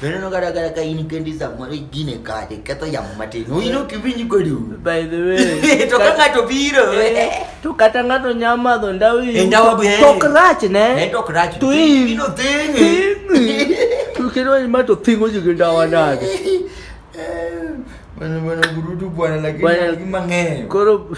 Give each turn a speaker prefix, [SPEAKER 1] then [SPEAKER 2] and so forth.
[SPEAKER 1] Veneno kata kata ka in kendi samoro igine kade ketho yamo matin. Oino kiwinj kodi. By the way.
[SPEAKER 2] To ka ng'ato biro.
[SPEAKER 1] Eh, to kata
[SPEAKER 2] ng'ato nya madho ndawa iyi. Eh, ndawa be. Tok
[SPEAKER 1] rach ne. Eh,
[SPEAKER 2] tok rach. To iyi. Ino
[SPEAKER 1] thingi. To kendo
[SPEAKER 2] ima to thingo ji gi ndawa nade.
[SPEAKER 1] Bueno, bueno,
[SPEAKER 2] gurutu bwana
[SPEAKER 1] lakini mang'eyo. Koro